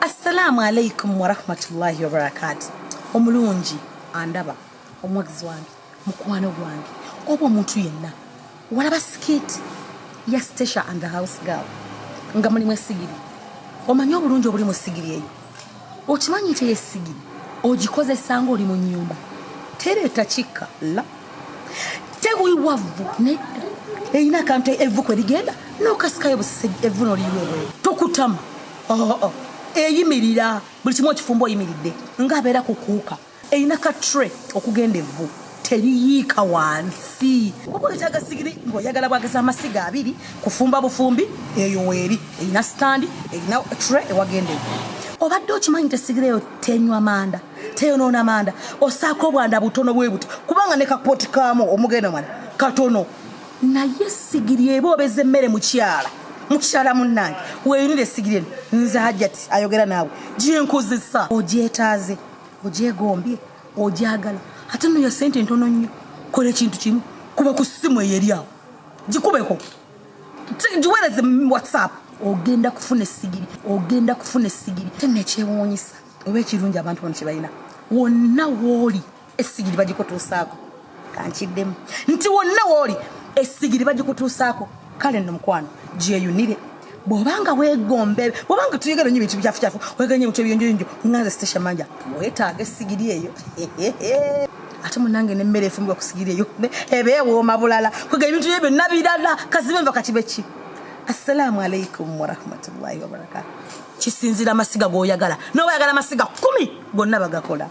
assalamu alaikum warahmatullahi wabarakatu omulungi andaba omuwagizi wange mukwano gwange oba omuntu yenna walaba sikiti ya stecia and the house girl nga mulimu esigiri omanyi obulungi obuli mu sigiri eyo okimanyi nti eyo essigiri ogikozesa ng'oli mu nnyumba tereeta kikka la tewiwavvu nedda erina akantu evvu kwe ligenda n'okasikayo busisegi evvu noliyiweebweyo tokutama oh, oh. eyimirira buli kimu okifumba oyimiridde ng'abeera kukuuka Eyina ka tray okugenda evvu teriyiika wansi oba wetaaga sigiri ng'oyagala bwageza amasiga abiri kufumba bufumbi eyo weeri erina sitandi erina tre ewagenda eyo obadde okimanyi nti esigiri eyo tenywa manda teyonoona manda osaako obwanda butono bwe buti kubanga ne kapooti kaamu omugenda mwana katono naye sigiri eba obeza emmere mukyala mukyala munnange weyinira esigiri eno nze hajjati ayogera naawe gyenkozesa ogyetaaze ogyegombye ogyagala ate noyo sente entono nnyo kola ekintu kimu kuba ku simu eyo eri awo gikubeko giwereze whatsapp ogenda kufuna esigiri ogenda kufuna esigiri te nekyewuunyisa oba ekirungi abantu bano kyebalina wonna wooli esigiri bagikutuusaako kankiddemu nti wonna wooli essigiri bagikutuusaako kale nno mukwano gyeyunire bwobanga wegombe bwobanga tuyogera nyo bintu bikyafucafu weganye bintu ebyonjoyonjo nganze station manja wetaaga essigiri eyo ate munange nemmere efumbwa kusigiri eyo eba ewooma bulala kwega ebintu bye byonna birala kazibe nva kati beki assalamu alaikum warahmatullahi wabarakatu kisinzira amasiga goyagala noba yagala amasiga kumi gonna bagakola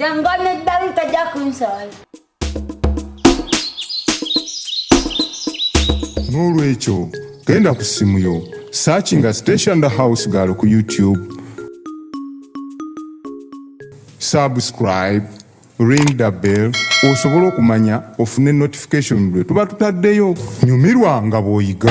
Jangan nak dari tajak kunsal. n'olwekyo genda ku ssimu yo searchinga station the house girl ku youtube subscribe ring the bell osobole okumanya ofune notification lwe tuba tutaddeyo nyumirwa nga bw'oyiga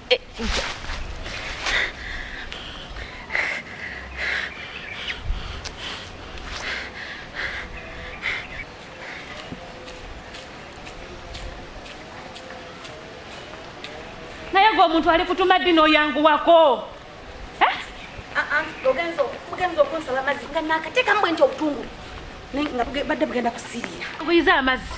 naye gwe omuntu ali kutuma ddi n'oyanguwako eh? ah, ah, ogenza okunsaba amazzi nga nakatekamu bwe nti obutungulu badde bugenda kusiriira buyize amazzi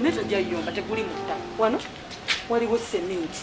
naye tojayomba teguli mutta wano waliwo seminti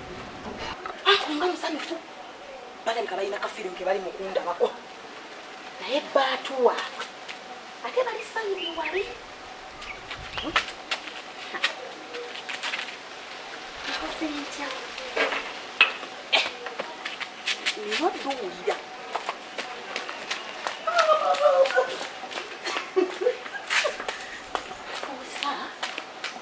akumba musanyufu balabika balina kafiirimu ke bali mukundabako naye baatuwa ate bali sayidi wali ntya nina otuwulira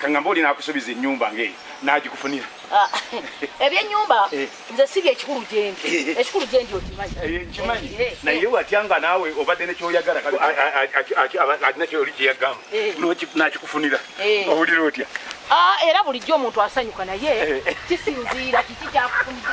kangamba oli nakusubiza enyumba nga eyo nagikufunira ah, ebyenyumba eh. nze si byekikulu gyendi eh, eh. ekikulu gyendi okimanyikimanyi naye watya nga naawe obadde nekyoyagala alina kyoli kyeyagamba nakikufunira owulira otya ah, era bulijjo omuntu asanyuka naye kisinziira kiki kyakufunira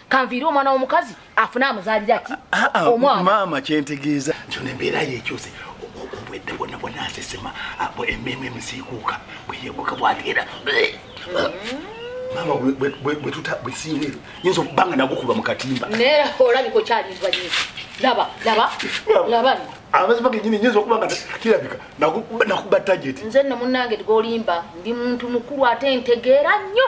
kanviire omwana w'omukazi afune amuzaalira ki ah, ah, omwana maama kyentegeeza nti ono embeera yekyuse obwedde bwonna bwonna asesema ah, emmeemu emisiikuuka bweyebuka bwateera maama bwetuta bwesinga ebyo nyinza okuba nga nagukuba mu katimba naye olabika okyalindwa nyi laba laba laba amazima genyini nyinza okuba nga kirabika nakuba tageti nze nno munnange tgolimba ndi muntu mukulu ate ntegeera nnyo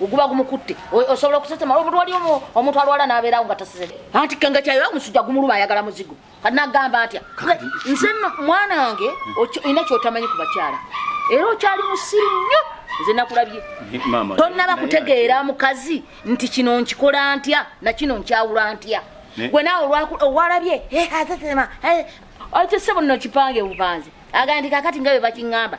guba gumukutte osobola okusesema omuntu wali omuntu alwala nabeerawo nga taseseme anti kenge kyayo omusujja gumuluba ayagala muzigo kati nagamba atya nze mwana wange olina kyotamanyi ku bakyala era okyali musiru nnyo nze nakulabye tonnaba kutegeera mukazi nti kino nkikola ntya nakino nkyawula ntya gwe nawe owalabye asesema ekisebo nno kipange bupanzi agandi kakati nga bwe bakiŋŋamba